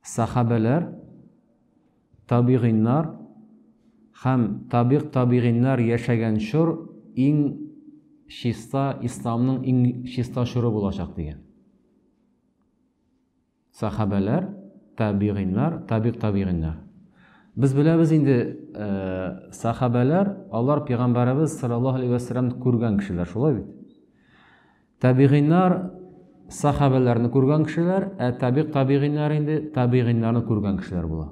Сахабәләр, табигыйннар һәм табигъ табигыйннар яшәгән чор иң чиста исламның иң чиста чоры булачак дигән. Сахабәләр, табигыйннар, табигъ табигыйннар. Без беләбез инде, э, сахабәләр, алар пәйгамбәребез саллаллаһу алейһи ва күргән кешеләр, шулай бит? Табигыйнар, сахабәләрне күргән кешеләр, ә табигъ табигыйнар инде табигыйнарны күргән кешеләр була.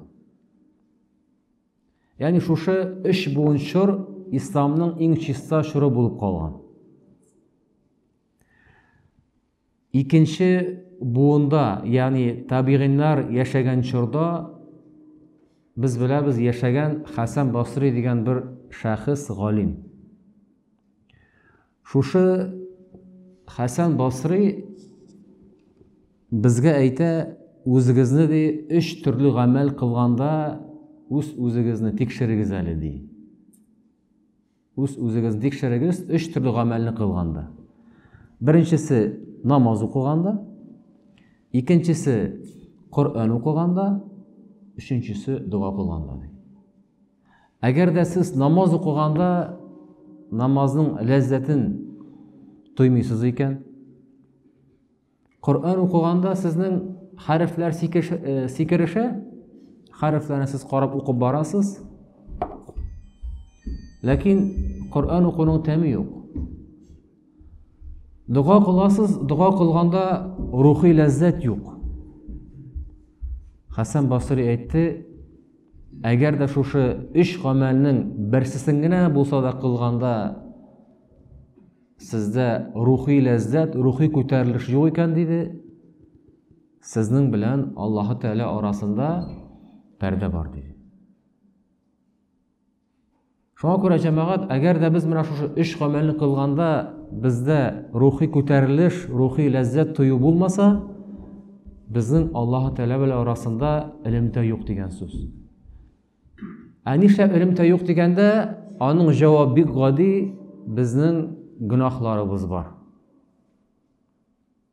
Ягъни шушы өч буын чор исламның иң чиста чоры булып калган. Икенче буында, ягъни табигыйнар яшәгән чорда без беләбез яшәгән Хәсән Басри дигән бер шәхес галим. Шушы Хәсән Басри безгә әйтә, үзегезне ди өч төрле гамәл кылганда үз-үзегезне тикшерегез әле ди. Үз-үзегезне тикшерегез өч төрле гамәлне кылганда. Беренчесе намаз укыганда, икенчесе Коръән укыганда, өченчесе дога кылганда ди. Әгәр дә сез намаз укыганда намазның ләззәтен тоймыйсыз икән, Коръән укыганда сезнең хәрефләр сикереше, хәрефләрне сез карап укып барасыз, ләкин Коръән укуның тәме юк. Дога кыласыз, дога кылганда рухи ләззәт юк. Хәсән Басри әйтте, әгәр дә шушы өч гамәлнең берсесен генә булса да кылганда сездә рухи ләззәт, рухи күтәрелеш юк икән диде, сезнең белән Аллаһы Тәгалә арасында пәрдә бар диде. Шуңа күрә җәмәгать, әгәр дә без менә шушы өч гамәлне кылганда бездә рухи күтәрелеш, рухи ләззәт тою булмаса, безнең Аллаһ Тәгалә белән арасында элемтә юк дигән сүз. Ә нишләп элемтә юк дигәндә, аның җавабы бик гади, безнең гөнаһларыбыз бар.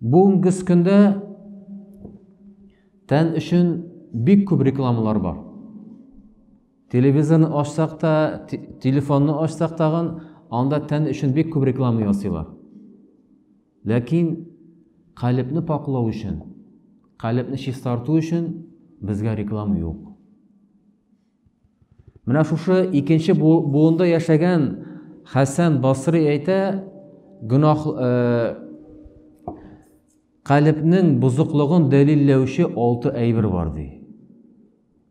Бүгенге көндә тән өчен бик күп рекламалар бар. Телевизорны ачсак та, телефонны ачсак тагын, анда тән өчен бик күп реклама ясыйлар. Ләкин калебне пакылау өчен, калебне чистарту өчен безгә реклама юк. Менә шушы икенче буында яшәгән Хәсән Басри әйтә, гөнаһ калебнең бозыклыгын дәлилләүче алты әйбер бар ди.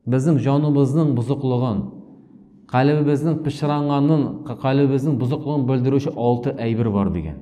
Безнең җаныбызның бозыклыгын, калебебезнең пычранганын, калебебезнең бозыклыгын белдерүче алты әйбер бар дигән.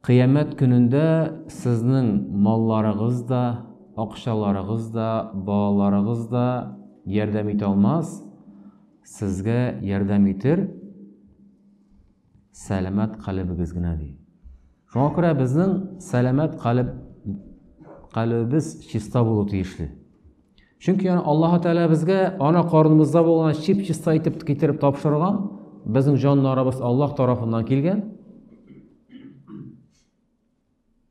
Кыямәт көнендә сезнең малларыгыз да, акчаларыгыз да, балаларыгыз да ярдәм итә алмас, сезгә ярдәм итер сәламәт калебегез генә ди. Шуңа күрә безнең сәламәт калеб калебебез чиста булу тиешле. чөнки аны аллаһы тәғәлә безгә ана карыныбызда булган чип чиста итеп китереп тапшырган безнең җаннарыбыз аллаһ тарафыннан килгән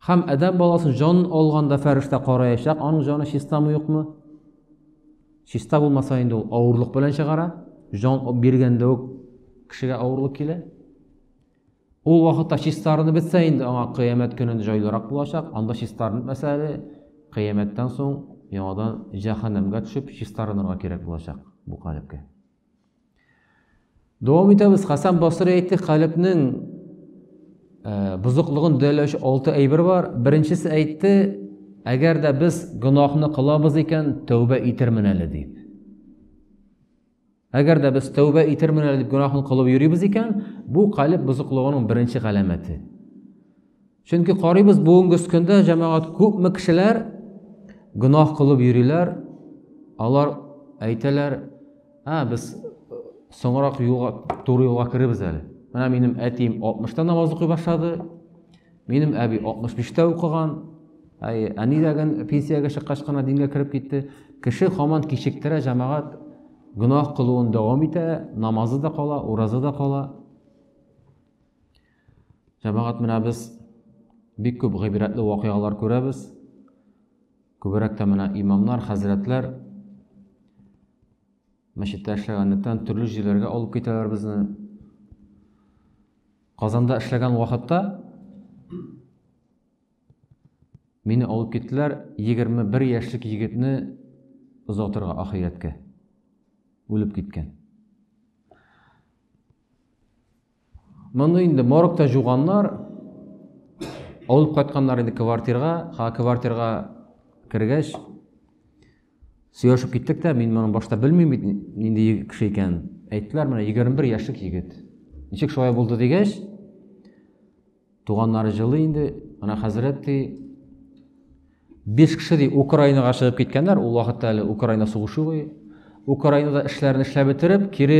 һәм әдәм баласы җан алганда фәрештә караячак аның җаны чистамы юкмы чиста булмаса инде ул авырлык белән чыгара җан биргәндә үк кешегә авырлык килә Ул вакытта чистарынып бетсә инде аңа кыямәт көнен җайлырак булачак, анда чистарынып мәсә әле кыямәттән соң яңадан җәһәннәмгә төшеп чистарынырга кирәк булачак бу калепкә. Дәвам итәбез. Хасан Басри әйтте, калепнең э, бозыклыгын дәләүче алты әйбер бар. Беренчесе әйтте, әгәр дә без гөнаһны кылабыз икән, тәүбә итермен әле дип. Әгәр дә без тәүбә итермен әле дип гөнаһын кылып йөрибез икән, бу калеб бозыклыгының беренче галәмәте. Чөнки карыйбыз бүгенге көндә җәмәгать күпме кешеләр гөнаһ кылып йөриләр, алар әйтәләр, "А, без соңрак юлга, туры юлга керебез әле. Менә минем әтием 60-та намаз укый башлады, Минем әби 65-тә укыган, әй, әни дәген пенсиягә чыккач кына дингә кереп китте. Кеше хаман кичектерә җәмәгать гөнаһ кылуын дәвам итә, намазы да кала, уразы да кала. Җәмәгать менә без бик күп гыйбрәтле вакыйгалар күрәбез. Күбрәк тә менә имамнар, хәзрәтләр мәчеттә эшләгәнлектән төрле җирләргә алып китәләр безне. Казанда эшләгән вакытта мине алып киттеләр 21 яшьлек егетне озатырга ахирәткә. Үлеп киткән. Моны инде моргта жуганнар, алып кайтканнар инде квартирга, ха квартирга кергәч, Сөйләшеп киттек тә, мин моны башта белмим бит, нинди кеше икән. Әйттеләр, менә 21 яшьлек егет. Ничек шулай булды дигәч, туганнары җылы инде, ана хәзрәт ди, биш кеше ди Украинага чыгып киткәннәр, ул вакытта әле Украина сугышы буе. Украинада эшләрен эшләп бетереп, кире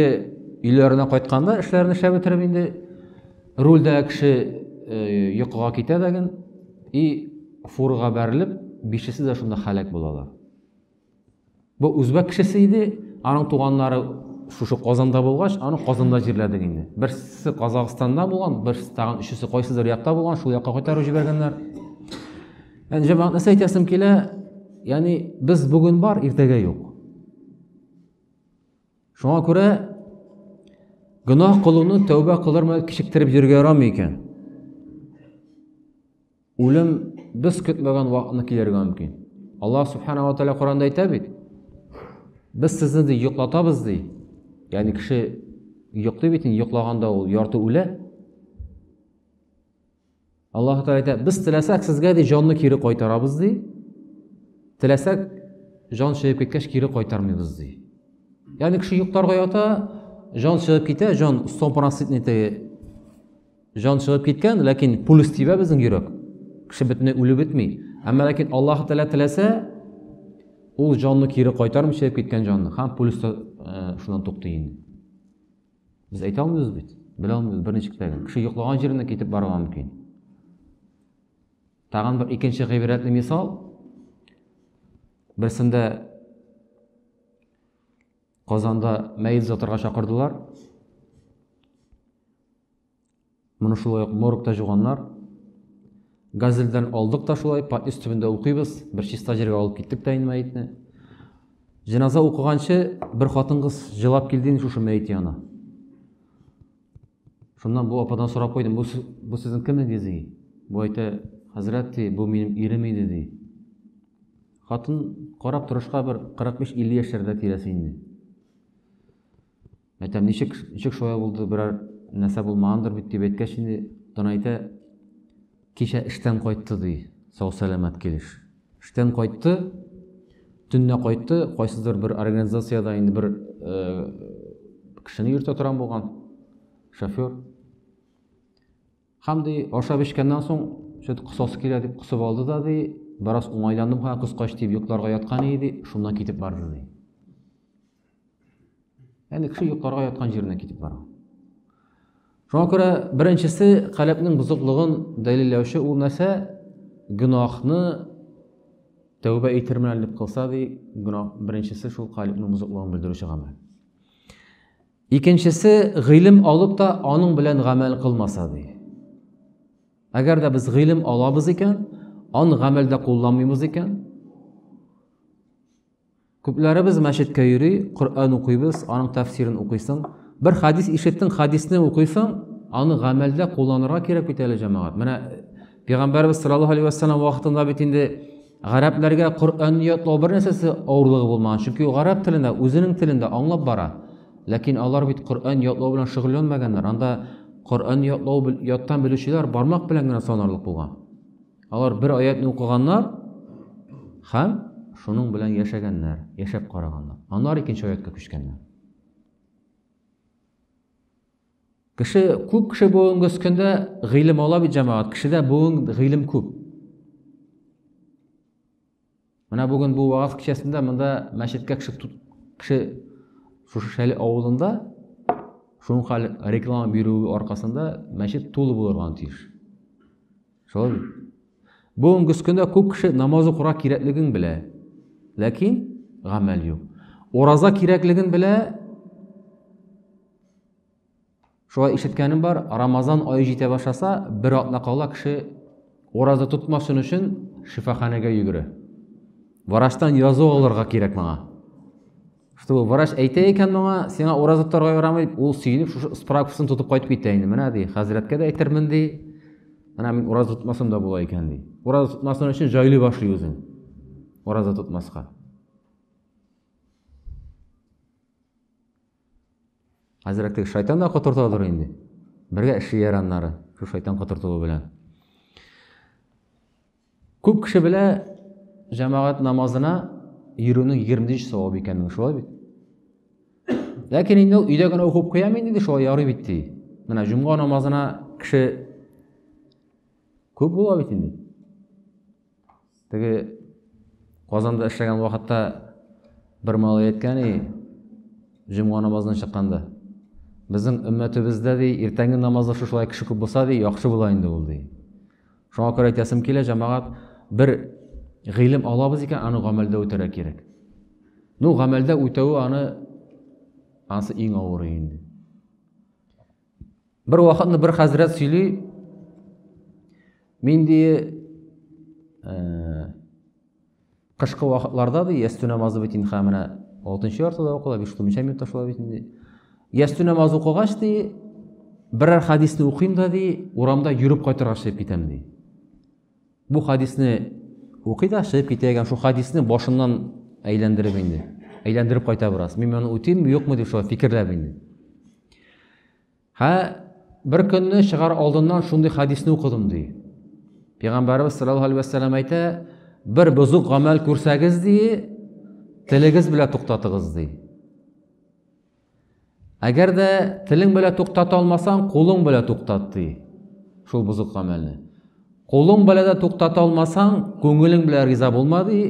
өйләренә кайтканда эшләрен эшләп бетереп инде Рульдә кеше йокыга китә дәген и фурга бәрелеп, бишесе дә шунда халәк булалар. Бу үзбәк кешесе иде, аның туганнары шушы Казанда булгач, аны Казанда җирләдек инде. Берсе Казахстанда булган, берсе тагын өчесе кайсыдыр якта булган, шул якка кайтарып җибәргәннәр. Яни җәмәгать нәрсә әйтәсем килә? Яни без бүген бар, иртәгә юк. Шуңа күрә гөнаһ кылуны тәүбә кылыр мәл кичектереп йөрергә ярамый икән. Үлем без көтмәгән вакытны килергә мөмкин. Аллаһ субханала тәгалә Коранда әйтә бит. Без сезне ди йоклатабыз ди. Ягъни кеше йоклый бит, йоклаганда ул ярты үлә. Аллаһу Тәгалә әйтә, без теләсәк сезгә ди җанны кире кайтарабыз ди. Теләсәк җан чыгып киткәч кире кайтармыйбыз ди. Ягъни кеше йокларга ята, җан чыгып китә, җан стопроцентный теге җан чыгып киткән, ләкин пульс тибә безнең йөрәк. Кеше бөтенләй үлеп бетми. Әмма ләкин Аллаһу Тәгалә теләсә, ул җанны кире кайтармый чыгып киткән җанны. Һәм пульс та э, шуннан туктый инде. Без әйтә алмыйбыз бит. Белә алмыйбыз берничек тә. Кеше йоклаган җиренә китеп барырга мөмкин. Тагын бер икенче гыйбрәтле мисал. Берсендә Казанда мәйет озатырга чакырдылар. Моны шулай ук моргта җуганнар. Газельдән алдык та шулай, патис төбендә укыйбыз. Бер чиста җиргә алып киттек тә инде мәетне. Җеназа укыганчы бер хатын-кыз җылап килде инде шушы мәет янына. Шуннан бу ападан сорап куйдым, бу, бу сезнең кемегез ди? Бу әйтә, хәзрәт ди, бу минем ирем иде ди. Хатын карап торышка бер 45-50 яшьләрдә тирәсе инде. Мәтәм, ничек, ничек шулай булды, берәр нәрсә булмагандыр бит дип әйткәч инде, Донайта кичә эштән кайтты ди, сау-сәламәт килеш. Эштән кайтты, төннә кайтты, кайсыдыр бер организациядә инде бер э, кешене йөртә торган булган, шофер. Һәм ди, ашап эчкәннән соң, шөт косасы килә дип косып алды да ди, бераз уңайландым һәм кыскач дип йокларга яткан иде, шуннан китеп барды ди. Әле кеше йокларга яткан җиренә китеп бара. Шуңа күрә беренчесе каләпнең бозыклыгын дәлилләүче ул нәрсә? Гөнаһны тәүбә итермен әле дип кылса ди, гөнаһ беренчесе шул каләпнең бозыклыгын белдерүче гамәл. Икенчесе гыйлем алып та аның белән гамәл кылмаса ди. Әгәр дә без гыйлем алабыз икән, аны гамәлдә кулланмыйбыз икән, Күпләребез мәчеткә йөри, Коръән укыйбыз, аның тәфсирен укыйсың. Бер хәдис ишеттең, хәдисне укыйсың, аны гамәлдә кулланырга кирәк бит әле, җәмәгать. Менә Пәйгамбәрбез саллаллаһу алейһи ва сәлләм вакытында бит инде гарәпләргә Коръәнне ятлау бер нәрсәсе авырлыгы булмаган, чөнки ул гарәп телендә, үзенең телендә аңлап бара. Ләкин алар бит Коръән ятлау белән шөгыльләнмәгәннәр. Анда Коръән ятлау яттан белүчеләр бармак белән генә санарлык булган. Алар бер аятны укыганнар һәм шуның белән яшәгәннәр, яшәп караганнар. Аннары икенче аятка күчкәннәр. Кеше күп кеше бүгенге көндә гыйлем ала бит җәмәгать. Кешедә бүген гыйлем күп. Менә бүген бу вагаз кичәсендә монда мәчеткә кеше кеше шушы Шәле авылында шуңка реклама бирүе аркасында мәчет тулы булырга тиеш. Шулай. Бүгенге көндә күп кеше намаз укырга кирәклеген белә. Ләкин гамәл юк. Ураза кирәклеген белә. Шулай ишеткәнем бар, Рамазан ае җитә башласа, бер атна кала кеше ураза тотмасын өчен шифаханәгә йөгерә. Врачтан язу алырга кирәк моңа. Чтобы врач әйтә икән моңа, сиңа ураза тотарга ярамый, ул сөенеп шушы справкасын тотып кайтып китә инде. Менә ди, хәзрәткә дә әйтермен ди. Менә мин ураза тотмасам да була икән ди. Ураза тотмасын өчен җайлы башлый үзен. Ураза тотмаска. Хәзрәк теге шайтан да котыртадыр инде. Бергә эшлиләр аннары, шул шайтан котыртуы белән. Күп кеше белә җәмәгать намазына йөрүнең 20 савабы икәнен, шулай бит? Ләкин инде ул өйдә генә укып куям инде шулай ярый бит ди. Менә җомга намазына кеше күп була бит инде. Теге Казанда эшләгән вакытта бер малай әйткән и, җомга намазына чыкканда. Безнең өммәтебездә ди, иртәнге намазда шушылай кеше күп булса ди, яхшы була инде ул ди. Шуңа күрә әйтәсем килә, җәмәгать, бер гыйлем алабыз икән, аны гамәлдә үтәргә кирәк. Ну, гамәлдә үтәве аны анысы иң авыры инде. Бер вакытны бер хәзрәт сөйли, мин ди э, кышкы вакытларда ди ястү намазы бит инде менә алтынчы яртыда укыла, биш томча минутта шулай бит инде. Ястү намазы укыгач ди, берәр хәдисне укыйм да ди, урамда йөреп кайтырга чыгып китәм ди. Бу хадисне укый да чыгып китә икән, шул хадисне башыннан әйләндереп инде. Әйләндереп кайта бераз. Мин моны үтимме, юкмы дип шулай фикерләп инде. Һә бер көнне чыгар алдыннан шундый хадисне укыдым ди. Пәйгамбәрбез саллаллаһу алейһи вәссәлам әйтә, бер бозык гамәл күрсәгез ди, телегез белән туктатыгыз ди. Әгәр дә телең белә туктата алмасаң, кулың белә туктат ди. Шул бузык гамәлне. Кулың белә дә туктата алмасаң, күңелең белә риза булма ди.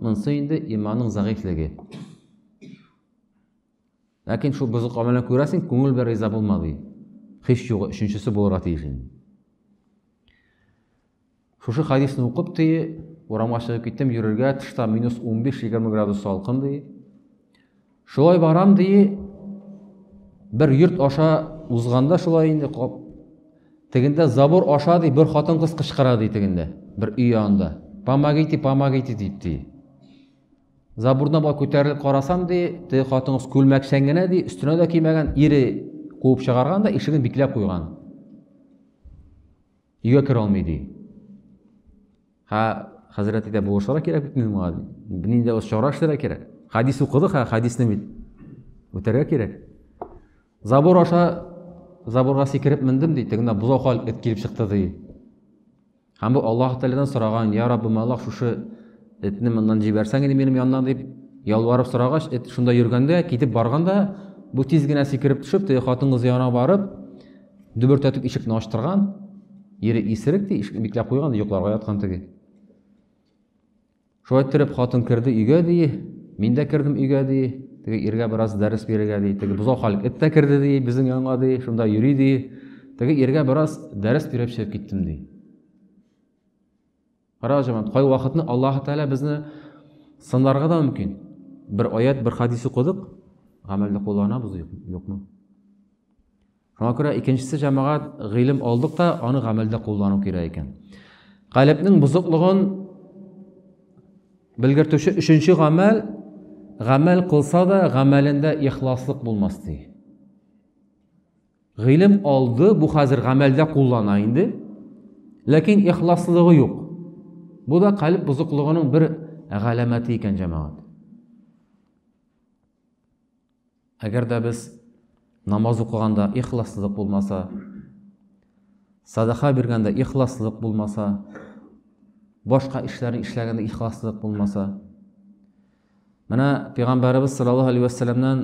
Монсы инде иманның зәгыйфлеге. Ләкин шул бузык гамәлне күрәсең, күңел белән риза булма ди. Хис югы өченчесе булырга тиеш инде. Шушы хәдисне укып ди, урамга чыгып киттем, йөрергә, тышта минус 15-20 градус салкын ди. Шулай барам ди, бер йорт аша узганда шулай инде кап. Тегендә забор аша ди, бер хатын кыз кычкыра ди тегендә, бер өй янында. Помогите, помогите дип ди. Забурдан бар күтәрелеп карасам ди, теге хатын кыз күлмәкчән генә ди, өстенә дә кимәгән, ире куып чыгарган да ишеген бикләп куйган. Өйгә керә алмый ди. Ха, хәзрәт әйтә, булышырга кирәк бит мин моңа. Нинди ул чара эшләргә кирәк. Хадис укыдык, ха, хадисны бит үтәргә кирәк. Забор аша заборга сикереп мендем ди, тегенә бозау хал эт килеп чыкты ди. Һәм бу Аллаһ Тәгаләдән сораган, "Я Раббым, Аллаһ, шушы этне моннан җибәрсәң иде минем яннан" дип ялварып сорагач, эт шунда йөргәндә, китеп барганда, бу тиз генә сикереп төшеп, теге хатын-кыз янына барып, Дөбертәтеп ишекне ачтырган, ире исерек ди, ишекне бикләп куйган, йокларга яткан теге. Шулай иттереп хатын керде өйгә ди, мин дә кердем өйгә ди, теге иргә бераз дәрес бирергә ди, теге бозау халык эт тә керде ди, безнең янга ди, шунда йөри ди. Теге иргә бераз дәрес биреп чыгып киттем ди. Кара җаман, кай вакытны Аллаһ Тәгалә безне сынларга да мөмкин. Бер аят, бер хадис укыдык, гамәлдә кулланабыз юкмы? Шуңа күрә икенчесе җәмәгать гыйлем алдык та, аны гамәлдә куллану кирәк икән. Калебнең бозыклыгын белгертүче өченче гамәл гамәл кылса да, гамәлендә ихласлык булмас ди. Гыйлем алды, бу хәзер гамәлдә куллана инде. Ләкин ихласлыгы юк. Бу да калиб бозыклыгының бер галәмәте икән, җәмәгать. Әгәр дә без намаз укыганда ихласлык булмаса, садаха биргәндә ихласлык булмаса, башка эшләрне эшләгәндә ихласлык булмаса. Менә пәйгамбәрбез саллаллаһу алейһи ва салламнан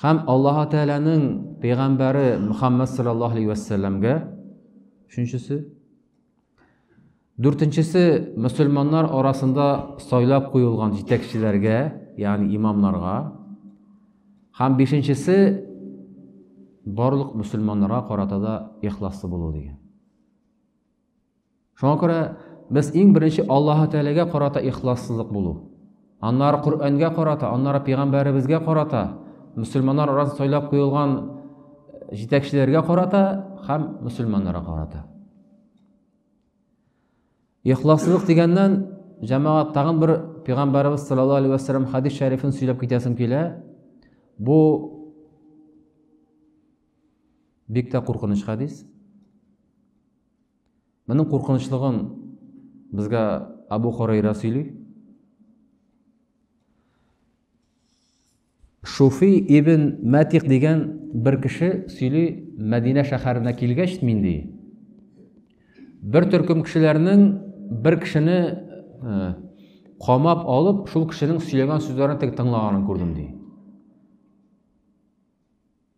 Һәм Аллаһ Тәгаләнең пәйгамбәре Мөхәммәд саллаллаһу алейһи ва сәлламгә өченчесе. Дүртенчесе мөселманнар арасында сайлап куелган җитәкчеләргә, ягъни имамнарга. Һәм бишенчесе барлык мөселманнарга карата да ихласлы булу дигән. Шуңа күрә без иң беренче Аллаһы Тәгаләгә карата ихлассызлык булу. Аннары Коръәнгә карата, аннары пәйгамбәребезгә карата, мөселманнар арасында сайлап куелган э, җитәкчеләргә карата һәм мөселманнарга карата. Ихлассызлык дигәннән, җәмәгать тагын бер пәйгамбәребез саллаллаһу алейһи ва саллям хадис шәрифен сөйләп китәсем килә. Бу Бик тә куркыныч хәдис. Моның куркынычлыгын безгә Абу Хурайра сөйли. Шуфи ибн Мәтик дигән бер кеше сөйли, Мәдинә шәһәренә килгәч мин ди. Бер төркем кешеләрнең бер кешене э, камап алып, шул кешенең сөйләгән сүзләрен тек тыңлаганын күрдем ди.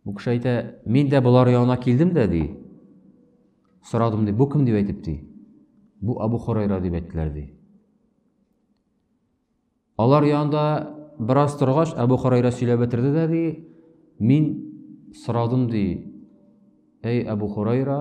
Бу кеше әйтә, мин дә болар янына килдем дә, ди. Сорадым, ди, бу кем дип әйтеп, ди. Бу Абу Хурайра дип әйттеләр, ди. Алар янында бераз торгач, Абу Хурайра сөйләп бетерде дә, ди, мин сорадым, ди, әй Абу Хурайра,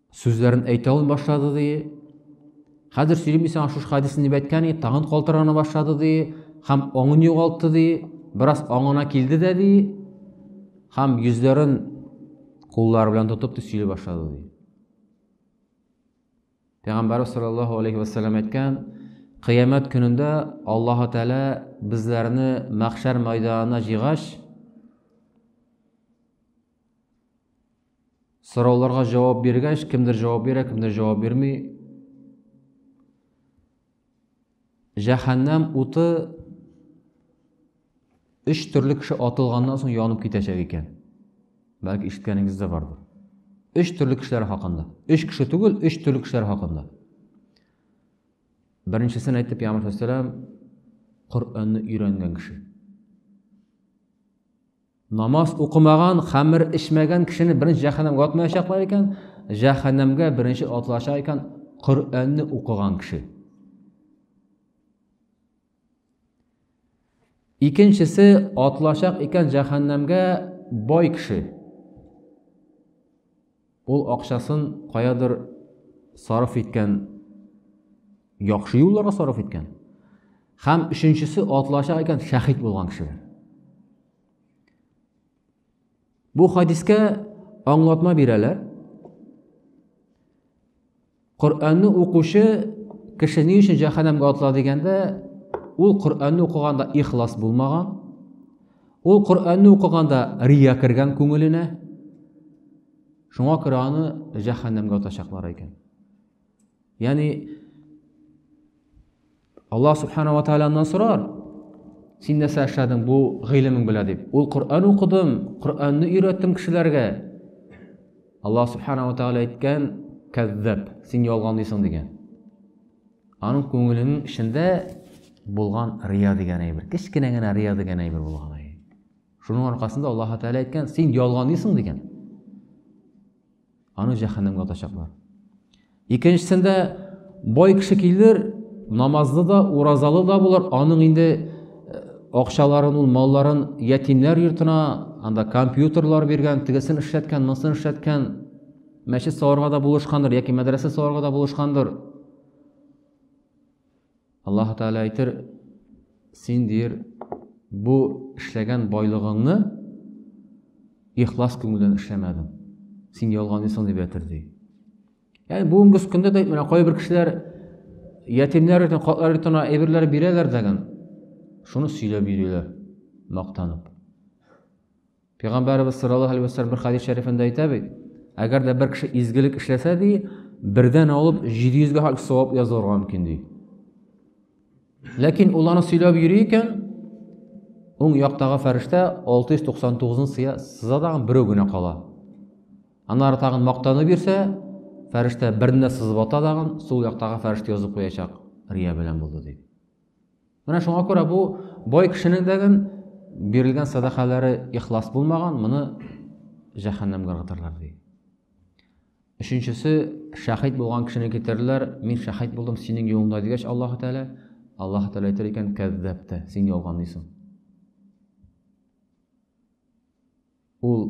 Сүзләрен әйтә ул башлады, ди. Хәзер сөйлим исән шушы хадисне дип әйткән, ди, тагын калтырана башлады, ди, һәм аңын югалтты, ди, бераз аңына килде дә, ди, һәм йөзләрен куллары белән тотып, ди, сөйли башлады, ди. Пәйгамбәрбез саллаллаһу алейхи ва саллям әйткән, кыямәт көнендә Аллаһу Тәгалә безләрне мәхшәр мәйданына җыйгач, Сорауларга җавап биргәч, кемдер җавап бирә, кемдер җавап бирми. Җәһәннәм уты өч төрле кеше атылганнан соң янып китәчәк икән. Бәлки ишеткәнегез дә бардыр. Өч төрле кешеләр хакында. Өч кеше түгел, өч төрле кешеләр хакында. Беренчесен әйтеп, Ямаш Вәссәләм Коръәнне өйрәнгән кеше. Намаз укымаган, хәмер эчмәгән кешене беренче җәһәннәмгә атмаячаклар икән, җәһәннәмгә беренче атылачак икән Коръәнне укыган кеше. Икенчесе атлачак икән җәһәннәмгә бай кеше. Ул акчасын каядыр сарыф иткән, яхшы юлларга сарыф иткән. Хәм өченчесе атлачак икән шәхид булган кешеләр. Бу хадискә аңлатма бирәләр. Коръәнне укучы кеше ни өчен җәһәннәмгә атла дигәндә, ул Коръәнне укыганда ихлас булмаган. Ул Коръәнне укыганда рия кергән күңеленә. Шуңа күрә аны җәһәннәмгә атачаклар икән. Ягъни Алла субхана ва тааламнан сорар, син нәрсә эшләдең бу гыйлемең белән дип. Ул Коръән укыдым, Коръәнне өйрәттем кешеләргә. Алла субхана ва тааля әйткән, кәззәб, син ялганлыйсың дигән. Аның күңеленең эчендә булган рия дигән әйбер, кечкенә генә рия дигән әйбер булган. Шуның аркасында Аллаһ тааля әйткән, син ялганлыйсың дигән. Аны җәһәннәмгә атачаклар. Икенчесендә бай кеше килер, намазлы да, уразалы да булыр, аның инде э, акчаларын, ул малларын ятимнәр йортына, анда компьютерлар биргән, тегесен эшләткән, монысын эшләткән, мәчет салырга да булышкандыр, яки мәдрәсә салырга да булышкандыр. Аллаһ Тәгалә әйтер, син дир, бу эшләгән байлыгыңны ихлас күңелдән эшләмәдең. Син ялганлыйсың дип әйтер ди. Ягъни бүгенге көндә дә менә кайбер кешеләр ятимнәр өчен картлар өчен әйберләр бирәләр дәгән. Шуны сөйләп йөриләр, мактанып. Пәйгамбәребез саллаллаһу алейһи вәссәлам бер хәдис шәрифендә әйтә бит, әгәр дә бер кеше изгелек эшләсә ди, бердән алып 700 гә хак савап язылырга мөмкин ди. Ләкин ул аны сөйләп йөри икән, уң яктагы фәрештә 699-ны сыя, сыза дагы берәү генә кала. Аннары тагын мактанып йөрсә, фәрештә берне сызып ата дагы, сул яктагы фәрештә язып куячак, рия белән булды ди. Менә шуңа күрә бу бай кешенең дәген бирелгән садакалары ихлас булмаган, моны җәһәннәмгә ыргытырлар ди. Өченчесе, шәһид булган кешене китерерләр, мин шәһид булдым синең юлыңда дигәч Аллаһ Тәгалә, Аллаһ Тәгалә әйтер икән, кәззәптә, син ялганлыйсың. Ул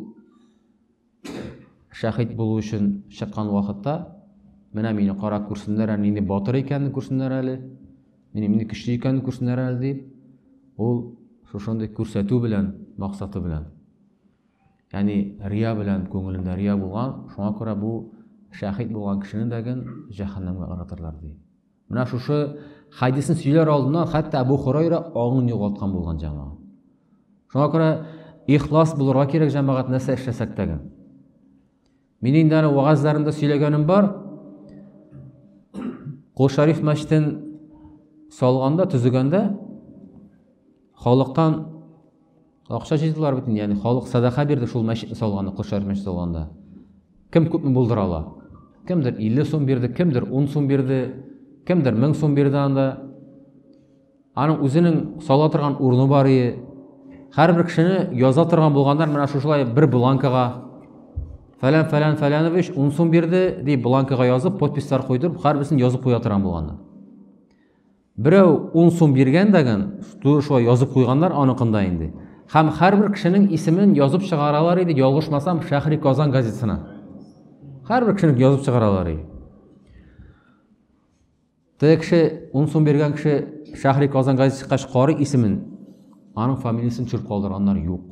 шәхит булу өчен чыккан вакытта, менә мине карап күрсеннәр әле, нинди батыр икәнен күрсеннәр әле, мине мине көчле икәнен күрсеннәр әле дип, ул шушындый күрсәтү белән, максаты белән. Ягъни рия белән күңелендә рия булган, шуңа күрә бу шәхит булган кешене дәген җәһәннәмгә ыргытырлар ди. Менә шушы хадисны сөйләр алдыннан хәтта Абу Хурайра аңын югалткан булган җәмәгать. Шуңа күрә ихлас булырга кирәк җәмәгать нәрсә эшләсәк тә. Мин инде аны вагазларында сөйләгәнем бар. Кул Шариф мәчетен салганда, төзегәндә халыктан Акча җыйдылар бит инде, ягъни халык садака бирде шул мәчетне салганда, Кошар мәчете салганда. Кем күпме булдыра ала? Кемдер 50 сум бирде, кемдер 10 сум бирде, кемдер 1000 сум бирде анда. Аның үзенең сала торган урыны бар иде. Һәрбер кешене яза торган булганнар менә шушылай бер бланкага фәлән фәлән фәләнович 10 сум бирде дип бланкага язып, подписьлар куйдырып, һәрберсен язып куя торган булганнар. Берәү ун сум биргән дагын, туры шулай язып куйганнар аныкында инде. Һәм һәрбер кешенең исемен язып чыгаралар иде, ялгышмасам, Шәһри Казан газетасына. Һәрбер кешенең язып чыгаралар иде. Теге кеше, ун сум биргән кеше Шәһри Казан газеты чыккач карый исемен, аның фамилиясен төшереп калдырганнар юк.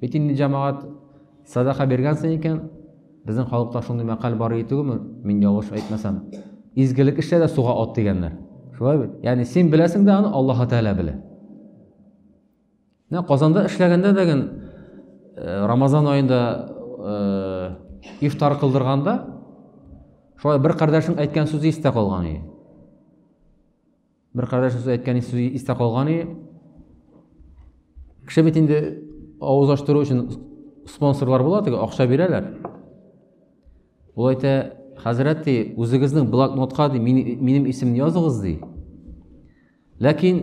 Бит инде җәмәгать садака биргәнсең икән, безнең халыкта шундый мәкаль бар иде түгелме? Мин ялгыш әйтмәсәм. Изгелек эшлә дә суга ат дигәннәр. Шулай бит? Ягъни син беләсең дә аны Аллаһ Тәгалә белә. Менә Казанда эшләгәндә дә ген э, Рамазан аенда э, ифтар кылдырганда шулай бер кардәшнең әйткән сүзе истә калган иде. Бер кардәш үзе әйткән сүзе истә калган и. Кеше бит инде авыз ачтыру өчен спонсорлар була, теге акча бирәләр. Ул әйтә, хәзрәт ди, үзегезнең блокнотка ди, минем исемне языгыз ди. Ләкин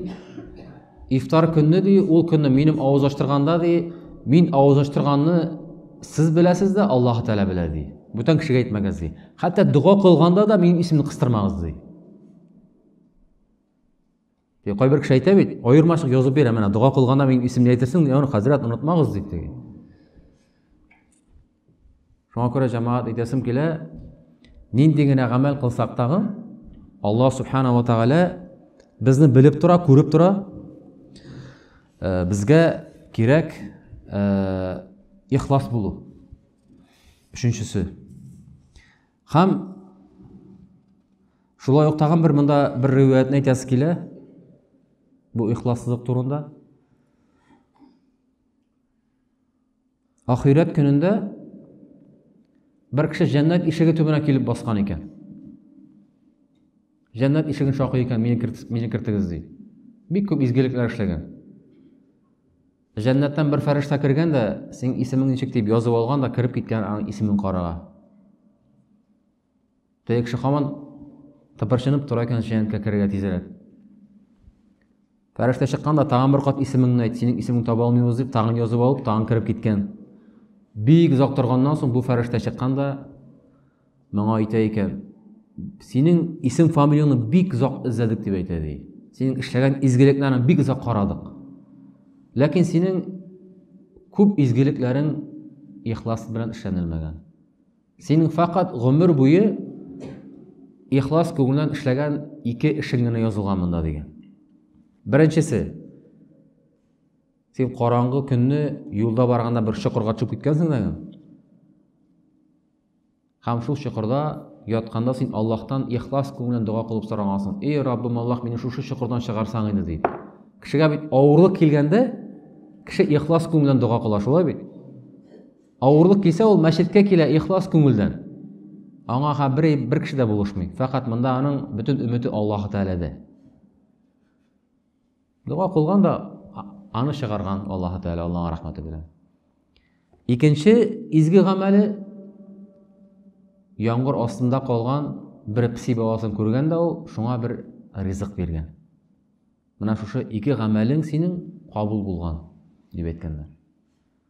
ифтар көнне ди, ул көнне минем авыз ачтырганда ди, мин авыз ачтырганны сез беләсез дә, Аллаһ Тәгалә белә ди. Бүтән кешегә әйтмәгез ди. Хәтта дога кылганда да минем исемне кыстырмагыз ди. Кайбер кеше әйтә бит, аермачык язып бирә, менә дога кылганда мин исемне әйтерсең, яны хәзрәт онытмагыз дип диген. Шуңа күрә җәмәгать әйтәсем килә, нинди генә гамәл кылсак тагы, Аллаһ субханала тәгалә безне белеп тора, күреп тора. Э, безгә кирәк э, ихлас булу. Өченчесе. Хәм шулай ук тагын бер монда бер риваятне әйтәсе килә. Бу ихлассызлык турында. Ахирәт көнендә бер кеше җәннәт ишеге төбенә килеп баскан икән. Җәннәт ишеген шакый икән, мине кертегез ди. Бик күп изгелекләр эшләгән. Җәннәттән бер фәрештә кергән дә, синең исемең ничек дип язып алган да кереп киткән аның исемен карага. Теге кеше хаман тыпырчынып тора икән җәннәткә керергә тизрәк. Фәрештә чыккан да тагын бер кат исемеңне әйт, синең исемеңне таба алмыйбыз дип тагын язып алып, тагын кереп киткән. Бик озак торганнан соң бу фәрештә чыккан да Моңа әйтә икән, синең исем фамилияңне бик озак эзләдек дип әйтә ди. Синең эшләгән изгелекләрен бик озак карадык. Ләкин синең күп изгелекләрең ихлас белән эшләнелмәгән. Синең факат гомер буе ихлас күңелдән эшләгән ике эшең генә язылган монда дигән. Беренчесе, син караңгы көнне юлда барганда бер чокырга төшеп киткәнсең дә. Һәм шул чокырда ятканда син Аллаһтан ихлас күңелен дога кылып сорагансың. Эй, Раббым Аллаһ, мине шушы чокырдан чыгарсаң иде дип. Кешегә бит авырлык килгәндә кеше ихлас күңелдән дога кыла, шулай бит? Авырлык килсә, ул мәчеткә килә ихлас күңелдән. Аңа ха бер бер кеше дә булышмый. Фәкать монда аның бөтен өмете Аллаһ Тәгаләдә. Дуга кылган да аны чыгарган Аллаһы Тәгалә Аллаһның рәхмәте белән. Икенче изге гамәле яңгыр астында калган бер пси баласын күргән дә ул шуңа бер ризык биргән. Менә шушы ике гамәлең синең кабул булган дип әйткәннәр.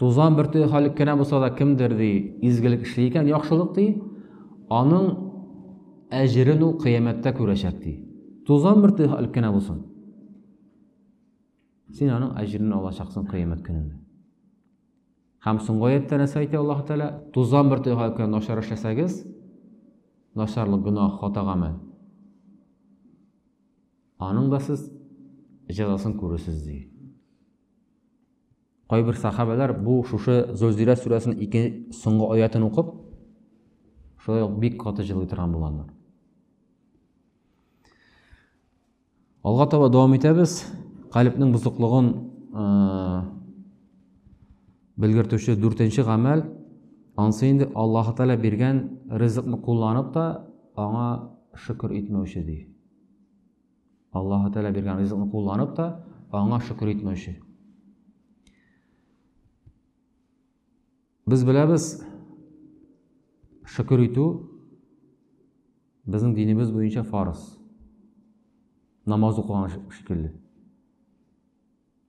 Тузан бөртеге халик кенә булса да кемдер ди, изгелек эшли икән, яхшылык ди, аның әҗерен ул кыямәттә күрәчәк ди. Тузан бөртеге халик кенә булсын. Син аның әҗерен алачаксың кыямәт көнендә. Һәм соңгы аятта нәрсә әйтә Аллаһ Тәгалә? Тузан бөртеге халик кенә начар эшләсәгез, начарлык гөнаһ, хатагамы? Аның да сез җәзасын күрерсез ди. Кайбер сахабәләр бу шушы Зөлзилә сүрәсенең ике соңгы аятын укып, шулай ук бик каты җылый торган булганнар. Алга таба дәвам итәбез. Калипнең бузыклыгын белгертүче дүртенче гамәл ансы инде Аллаһ Тәгалә биргән ризыкны кулланып та аңа шөкер итмәүче ди. Аллаһы Тәгалә биргән ризыкны кулланып та, аңа шөкер итмәүче. Без беләбез, шөкер итү безнең динебез буенча фарыз. Намаз укыган шикелле.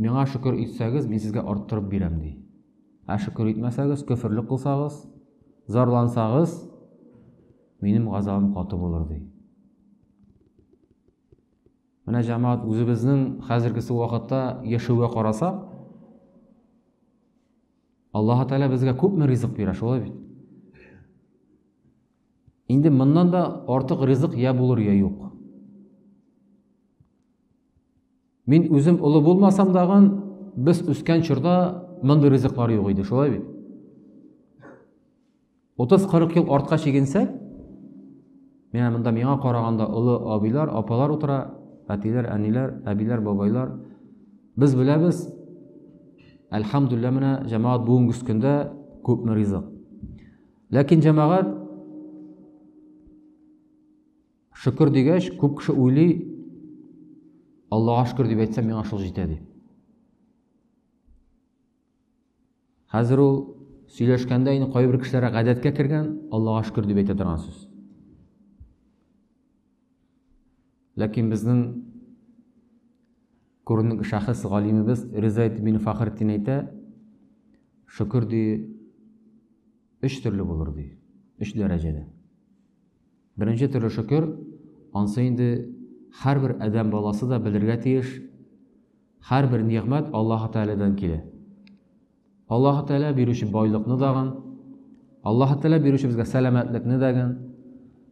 Миңа шөкер итсәгез, мин сезгә арттырып бирәм, ди. Ә шөкер итмәсәгез, көферлек кылсагыз, зарлансагыз, минем газабым каты булыр, ди. Менә җәмәгать үзебезнең хәзергесе вакытта яшәүгә карасак, Аллаһ Тәгалә безгә күпме ризык бирә, шулай бит? Инде моннан да артык ризык я булыр, я юк. Мин үзем олы булмасам дагын, без үскән чорда мондый ризыклар юк иде, шулай бит. 30-40 ел артка чигенсәк, менә монда миңа караганда олы абыйлар, апалар утыра, әтиләр, әниләр, әбиләр, бабайлар. Без беләбез, әлхәмдүлиллә менә җәмәгать бүгенге көндә күпме ризык. Ләкин җәмәгать Шөкер дигәч, күп кеше уйлый, Аллага шөкер дип әйтсәм, миңа шул җитә ди. Хәзер ул сөйләшкәндә инде кайбер кешеләргә гадәткә кергән, Аллага шөкер дип әйтә торган сүз. Ләкин безнең күренекле шәхес галимебез Риза ибн Фахрдин әйтә, шөкер ди өч төрле булыр ди, өч дәрәҗәдә. Беренче төре шөкер, ансы инде һәрбер адәм баласы да белергә тиеш, һәрбер нигъмәт Аллаһы Тәгаләдән килә. Аллаһы Тәгалә бирүче байлыкны дагын, Аллаһы Тәгалә бирүче безгә сәламәтлекне дәген,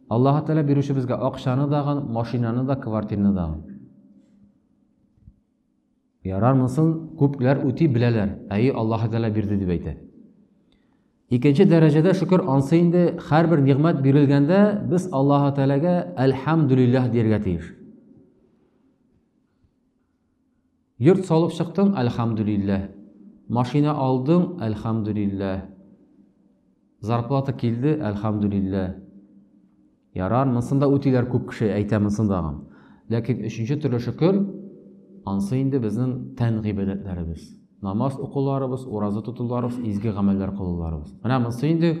Аллаһы Тәгалә бирүче безгә акчаны дагын, машинаны да, квартираны дагын. Ярар монысын күпләр үти беләләр, әйе Аллаһы Тәгалә бирде дип әйтә. Икенче дәрәҗәдә шөкер ансы инде һәрбер нигъмәт бирелгәндә без Аллаһы Тәгаләгә әлхәмдүлилләһ дияргә тиеш. Йорт салып чыктың, әлхәмдүлилләһ. Машина алдың, әлхәмдүлилләһ. Зарплата килде, әлхәмдүлиллә. Ярар, монысын да үтиләр күп кеше, әйтә монысын дагын. Ләкин өченче төрле шөкер, ансы инде безнең тән гыйбадәтләребез. Намаз укуларыбыз, ураза тотуларыбыз, изге гамәлләр кылуларыбыз. Менә монысы инде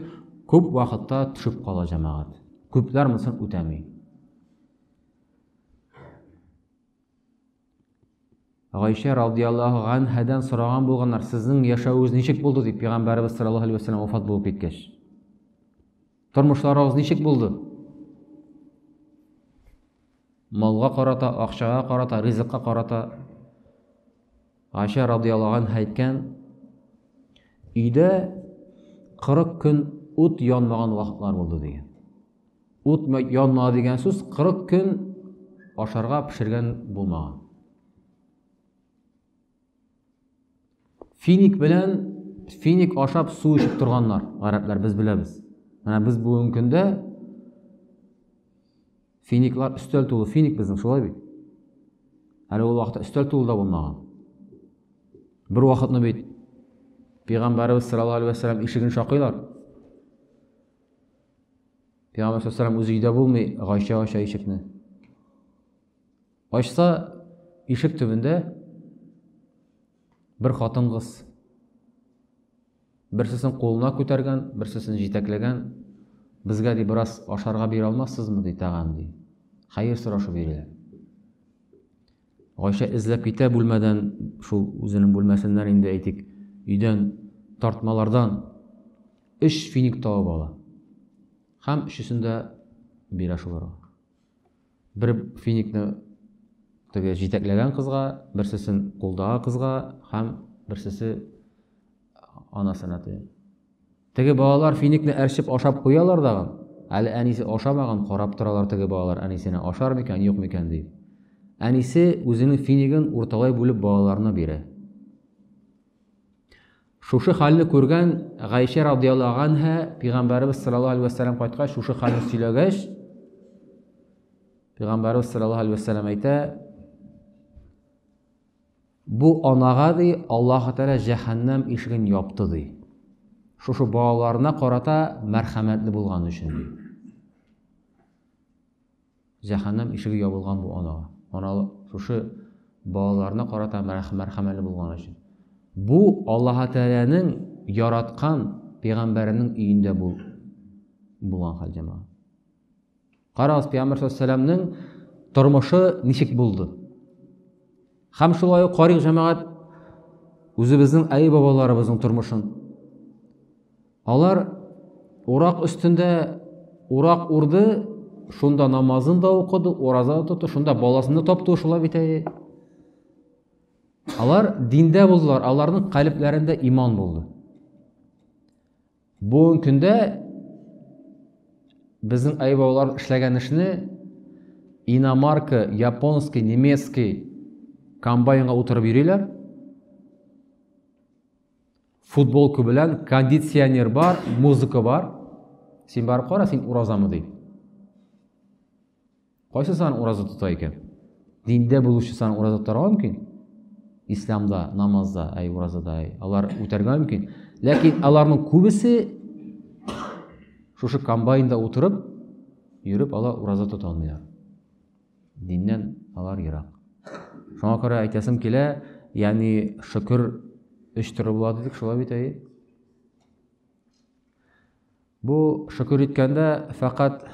күп вакытта төшеп кала җәмәгать. Күпләр монысын үтәми. Гайшә радиаллаһу ганһәдән сораган булганнар, сезнең яшәвегез ничек булды дип, пәйгамбәребез саллаллаһу алейһи вәсәлләм вафат булып киткәч. Тормышларыгыз ничек булды? Малга карата, акчага карата, ризыкка карата Гайшә радиаллаһу анһа әйткән, өйдә 40 көн ут янмаган вакытлар булды дигән. Ут янмады дигән сүз 40 көн ашарга пешергән булмаган. Финик белән финик ашап су эчеп торганнар, гарәпләр без беләбез. Менә без бүгенге көндә финиклар өстәл тулы финик безнең шулай бит. Әле ул вакытта өстәл тулы да булмаган. Бер вакытны бит пәйгамбәрбез саллаллаһу алейһи ва саллям ишеген шакыйлар. Пәйгамбәр саллаллаху үзе өйдә булмый, Гайшә ача ишекне. Ачса, ишек төбендә бер хатын-кыз. Берсесен кулына күтәргән, берсесен җитәкләгән. Безгә ди бераз ашарга бирә алмассызмы ди тагын ди. Хәер сорашу бирә. Гайшә эзләп китә бүлмәдән, шул үзенең бүлмәсеннән инде әйтик, өйдән тартмалардан өч финик табып ала. Һәм өчесен дә бирә шуларга. Бер финикны теге җитәкләгән кызга, берсесен кулдагы кызга һәм берсесе анасына тия. Теге балалар финикны әрчеп ашап куялар дагы, әле әнисе ашамаган, карап торалар теге балалар әнисенә ашар микән, юк микән дип. Әнисе үзенең финигын урталай бүлеп балаларына бирә. Шушы хәлне күргән Гайшә радияллаһу анһа пәйгамбәрбез саллаллаһу алейһи ва сәлләм кайткач шушы хәлне сөйләгәч, пәйгамбәрбез саллаллаһу алейһи ва сәлләм әйтә, Бу анага, ди, Аллаһы Тәгалә җәһәннәм ишеген япты, ди. Шушы балаларына карата мәрхәмәтле булган өчен, ди. Җәһәннәм ишеге ябылган бу анага. Ана шушы балаларына карата мәрхәмәтле булган өчен. Бу Аллаһы Тәгаләнең яраткан пәйгамбәренең өендә бул булган хәл җәмәгать. Карагыз, Пәйгамбер саллаллаху тормышы ничек булды? Хәм шулай ук карыйк җәмәгать үзебезнең әй бабаларыбызның тормышын. Алар урак өстендә урак урды, шунда намазын да укыды, ураза да тотты, шунда баласын да тапты шулай бит әй. Алар диндә булдылар, аларның калебләрендә иман булды. Бүгенге көндә безнең айбаулар эшләгән эшне иномарка, японский, немецкий комбайнга утырып йөриләр. Футболка белән кондиционер бар, музыка бар. Син барып кара, син уразамы ди. Кайсы сан ураза тота икән? Диндә булучы сан ураза тотарга мөмкин. Исламда, намазда, әй уразада, әй алар үтәргә мөмкин. Ләкин аларның күбесе шушы комбайнда утырып, йөреп алар ураза тота алмыйлар. Диннән алар ерак. Шуңа күрә әйтәсем килә, ягъни шөкер өч төрле була дидек, шулай бит әй. Бу шөкер иткәндә фәкать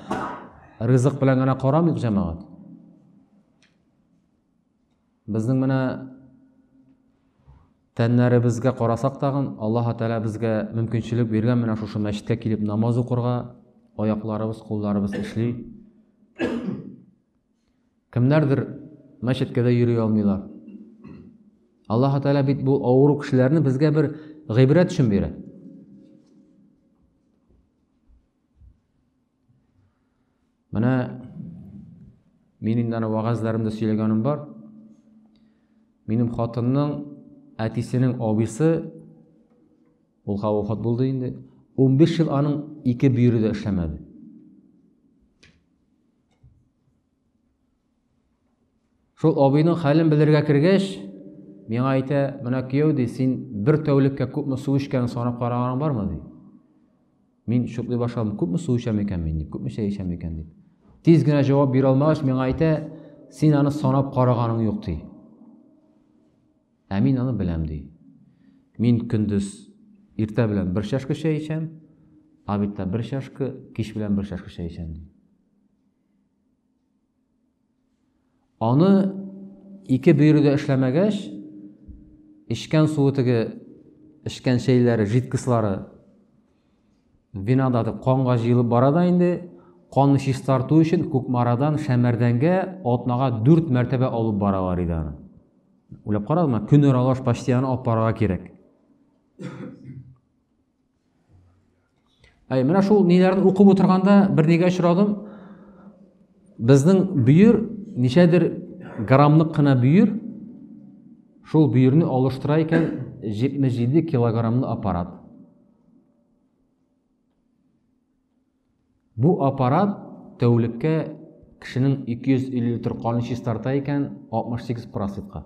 ризык белән генә карамыйк, җәмәгать. Безнең менә тәннәребезгә карасак тагын, Аллаһ Тәгалә безгә мөмкинчелек биргән менә шушы мәчеткә килеп намаз укырга, аякларыбыз, кулларыбыз эшли. Кемнәрдер мәчеткә дә йөри алмыйлар. Аллаһу Тәгалә бит бу авыру кешеләрне безгә бер гыйбрәт өчен бирә. Менә мин инде аны вагазларымда сөйләгәнем бар. Минем хатынның әтисенең абысы ул хавафат булды инде. 15 ел аның ике бөере дә эшләмәде. Шул абыйның хәлен белергә кергәч, миңа әйтә, менә кияү ди, син бер тәүлеккә күпме су эчкәнен санап караганың бармы ди. Мин шуклый башладым, күпме су эчәм икән мин, күпме чәй эчәм икән дип. Тиз генә җавап бирә алмагач, миңа әйтә, син аны санап караганың юк ди. Ә мин аны беләм ди. Мин көндез иртә белән бер чашка чәй эчәм, обедта бер чашка, кич белән бер чашка чәй эчәм ди. Аны ике бөере дә эшләмәгәч, эчкән суы теге эчкән чәйләре, жидкослары винада канга җыелып бара да инде, канны чистарту өчен Кукмарадан Шәмәрдәнгә атнага 4 мәртәбә алып баралар иде аны. Уйлап карадыңмы? Көн аралаш почти аны алып барырга кирәк. Әй, менә шул ниләрне укып утырганда бер нигә очрадым. Безнең бөер ничәдер граммлык кына бөер. Шул бөерне алыштыра икән 77 килограммлы аппарат. Бу аппарат тәүлеккә кешенең 250 литр канын чистарта икән 68 параситка.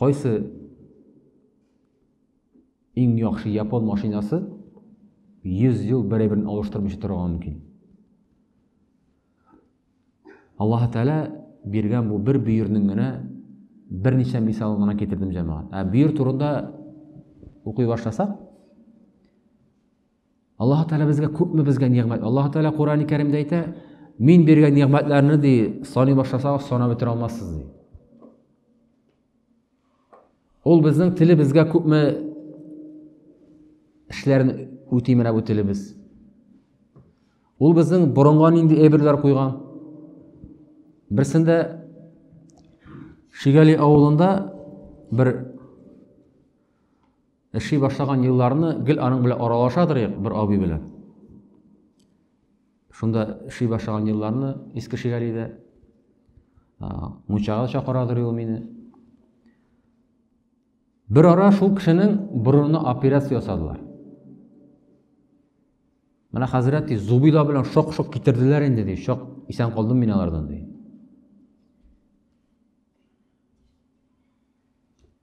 Кайсы иң яхшы япон машинасы 100 ел бер-берен алыштырмыйча торырга мөмкин? Аллаһ Тәгалә биргән бу бер бөернең генә берничә мисалын гына китердем җәмәгать. Ә бөер турында укый башласак, Аллаһ Тәгалә безгә күпме безгә нигъмәт. Аллаһ Тәгалә Куръани Кәримдә әйтә, мин биргән нигъмәтләрне ди саный башласагыз, санап бетерә алмассыз ди. Ул безнең телебезгә күпме эшләрен үти менә бу телебез. Ул безнең борынга нинди әйберләр куйган. Берсендә Шигали авылында бер Эшли башлаган елларны гел аның белән аралашадыр як бер абый белән. Шунда эшли башлаган елларны иске шигалидә мунчага чакырадыр ул мине. Бер ара шул кешенең борынына операция ясадылар. Менә хәзрәт ди, зубила белән шок-шок китерделәр инде ди, шок исән калдым мин алардан ди.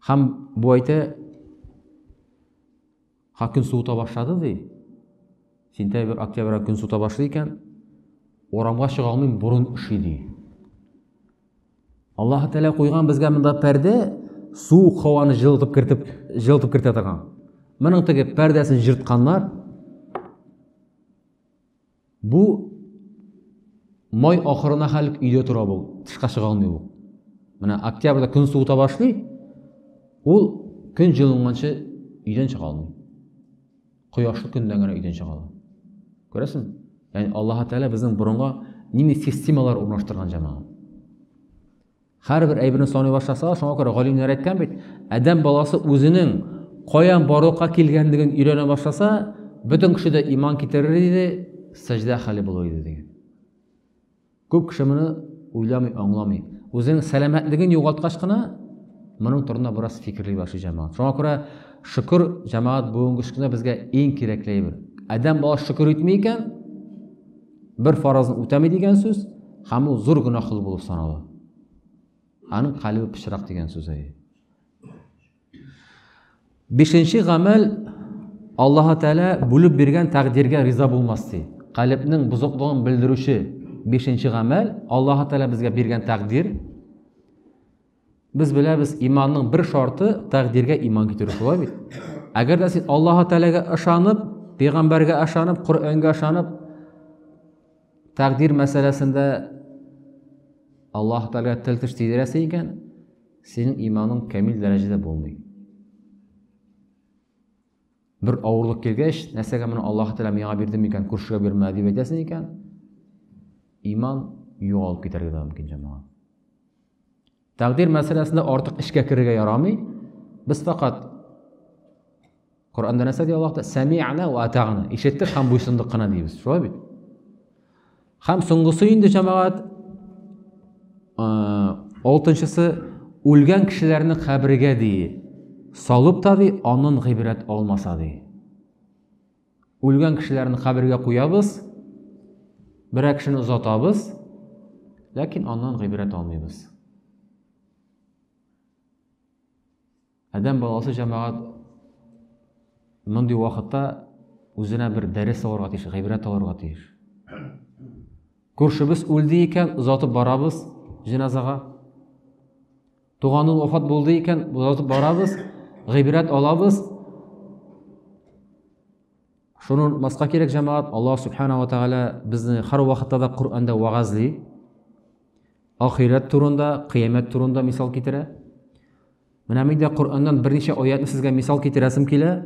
Һәм бу әйтә, ха көн суыта башлады ди. Сентябрь, октябрь көн суыта башлый икән, урамга чыга алмыйм, бурын ошый ди. Аллаһ Тәгалә куйган безгә монда пәрдә, суык һаваны җылытып кертеп, җылытып кертә торган. Моның теге пәрдәсен җыртканнар. Бу май ахырына хәл өйдә тора бу, тышка чыга алмый бу. Менә октябрьдә көн суыта башлый, ул көн җылынганчы өйдән чыга алмый. Кояшлы көндән генә өйдән чыга ала. Күрәсең? Ягъни Аллаһ Тәгалә безнең борынга нинди системалар урнаштырган җәмәгать. Һәрбер әйберне саный башласалар, шуңа күрә галимнәр әйткән бит, адәм баласы үзенең каян барлыкка килгәнлеген өйрәнә башласа, бөтен кеше дә иман китерер иде, сәҗдә хәле булыр иде дигән. Күп кеше моны уйламый, аңламый. Үзенең сәламәтлеген югалткач кына моның турында бераз фикерли башлый җәмәгать. Шуңа күрә шөкер җәмәгать бүгенге көндә безгә иң кирәкле әйбер. Адәм баласы шөкер итми икән, Бер фаразны үтәми дигән сүз, һәм ул зур гөнаһ кылу булып санала. Аның калбы пычрак дигән сүз әйе. Бишенче гамәл Аллаһ Тәгалә бүлеп биргән тәкъдиргә риза булмас ди. Калбның бузыклыгын белдерүче бишенче гамәл Аллаһ Тәгалә безгә биргән тәкъдир, Без беләбез, иманның бер шарты тәкъдиргә иман китерү шулай бит. Әгәр дә син Аллаһ Тәгаләгә ышанып, пәйгамбәргә ышанып, Коръәнгә ышанып, тәкъдир мәсьәләсендә Аллаһ Тәгаләгә тел теш тидерәсең икән, синең иманың камил дәрәҗәдә булмый. Бер авырлык килгәч, нәрсәгә моны Аллаһ Тәгалә миңа бирде микән, күршегә бирмә дип әйтәсең икән, иман югалып китәргә дә мөмкин җәмәгать. Тәкъдир мәсьәләсендә артык эшкә керергә ярамый. Без факат Коранда нәрсә ди Аллаһ та? Сәми'на ва атагна. Ишеттек һәм буйсындык кына дибез. Шулай бит? Һәм соңгысы инде җәмәгать алтынчысы үлгән кешеләрне кабергә ди. Салып та ди, анын гыйбрәт алмаса ди. Үлгән кешеләрне кабергә куябыз, берәр кешене озатабыз, ләкин аннан гыйбрәт алмыйбыз. Адәм баласы җәмәгать мондый вакытта үзенә бер дәрес алырга тиеш, гыйбрәт алырга тиеш. Күршебез үлде икән, озатып барабыз җеназага. Туганы вафат булды икән, озатып барабыз, гыйбрәт алабыз. Шуны маска кирәк җәмәгать, Аллаһ субхана ва тагала безне һәр вакытта да Коръәндә вагазли. Ахирәт турында, кыямәт турында мисал китерә. Менә мин дә Коръәннән берничә аятны сезгә мисал китерәсем килә.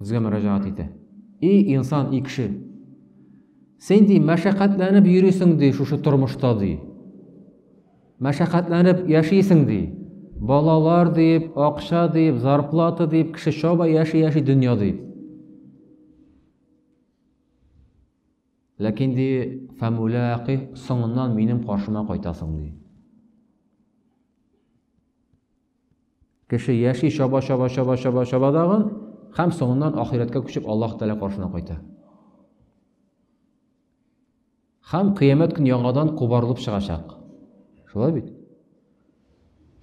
Безгә мөрәҗәгать итә. И инсан, и кеше! Син ди мәшәкатьләнеп йөрисең ди шушы тормышта ди. Мәшәкатьләнеп яшисең ди. Балалар дип, акча дип, зарплата дип, кеше чаба яши яши дөнья дип. Ләкин ди, фәмүләки соңыннан минем каршыма кайтасың ди. Кеше яши, чаба, чаба, чаба, чаба, чаба дагын, һәм соңыннан ахирәткә күчеп Аллаһ Тәгалә каршына кайта. Һәм кыямәт көн яңадан кубарылып чыгачак. Шулай бит?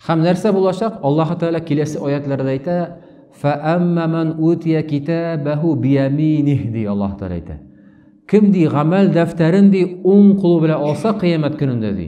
Һәм нәрсә булачак? Аллаһ Тәгалә киләсе аятларда әйтә, "Фәамма ман утия китабаху бияминих" ди Аллаһ Тәгалә әйтә. Кем ди гамәл дәфтәрен ди уң кулы белән алса кыямәт көнендә ди.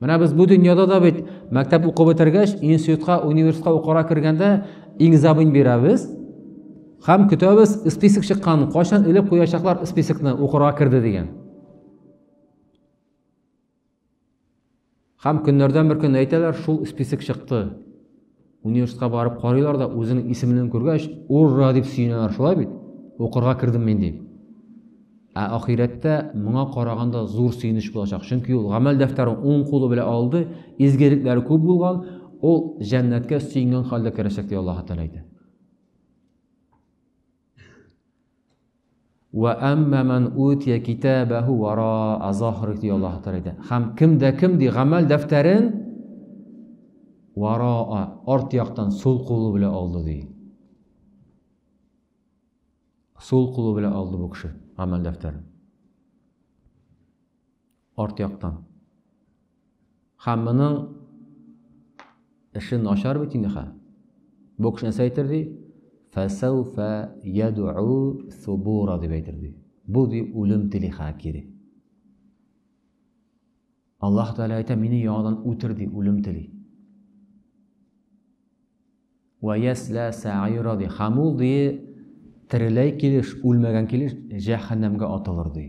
Менә без бу дөньяда да бит мәктәп укып бетергәч, институтка, университетка укырга кергәндә экзамен бирәбез һәм көтәбез список чыккан, кайчан элеп куячаклар списокны укырга керде дигән. Һәм көннәрдән бер көн әйтәләр, шул список чыкты. Университетка барып карыйлар да, үзенең исемлеген күргәч, урра дип сөенәләр, шулай бит? Укырга кердем мин дип. Ә ахирәттә моңа караганда зур сөенеч булачак, чөнки ул гамәл дәфтәрен уң кулы белән алды, изгелекләре күп булган, ул җәннәткә сөенгән хәлдә керәчәк, ди Аллаһ Тәгалә әйтә. Вә әмма мән утия китабәһу вараа захрих ди Аллаһу Тәгалә. Хәм кем дә кем ди гамәл дәфтәрен вараа арт яктан сул кулы белән алды ди. Сул кулы белән алды бу кеше гамәл дәфтәрен. Арт яктан. Һәм моның эше начар бит инде хәл. Бу кеше нәрсә әйтер ди? Фәсәүфә ядү субура дип әйтер ди. Бу ди үлем тели хә кире. Аллаһ Тәгалә әйтә, мине яңадан үтер ди, үлем тели. Вә яслә сәгыйра, ди. Һәм ул, ди, тереләй килеш, үлмәгән килеш, җәһәннәмгә атылыр, ди.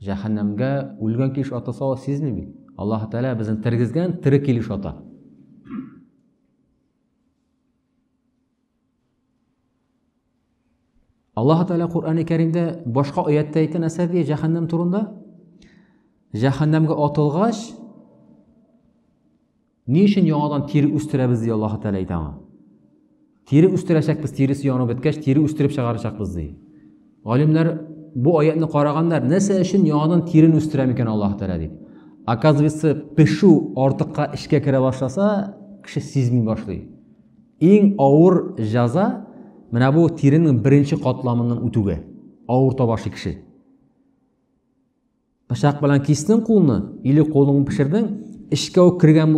Җәһәннәмгә үлгән килеш атылса, ул сизми бит. Аллаһ Тәгалә безне тергезгән, тере килеш ата. Аллаһ Тәгалә Коръәни Кәримдә башка аяттә әйткән нәрсә ди җәһәннәм турында? Җәһәннәмгә атылгач, ни өчен яңадан тире үстерәбез ди Аллаһ Тәгалә әйтә аңа. Тире үстерәчәкбез, тиресе янып беткәч, тире үстереп чыгарачакбыз ди. Галимнәр бу аятны караганнар, нәрсә өчен яңадан тирен үстерә микән Аллаһ Тәгалә дип. Оказывается, пешу артыкка эчкә керә башласа, кеше сизми башлый. Иң авыр җәза менә бу тиренең беренче катламының үтүгә. Авыр табашы кеше. Пычак белән кистең кулны, или кулыңны пешердең, эчкә үк кергән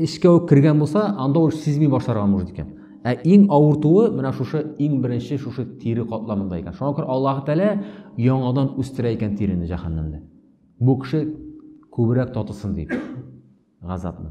эчкә үк кергән булса, анда ул сизми башларга может икән. Ә иң авыртуы менә шушы иң беренче шушы тире катламында икән. Шуңа күрә Аллаһ Тәгалә яңадан үстерә икән тирене җәһәннәмдә. Бу кеше күбрәк татысын дип. Газапны.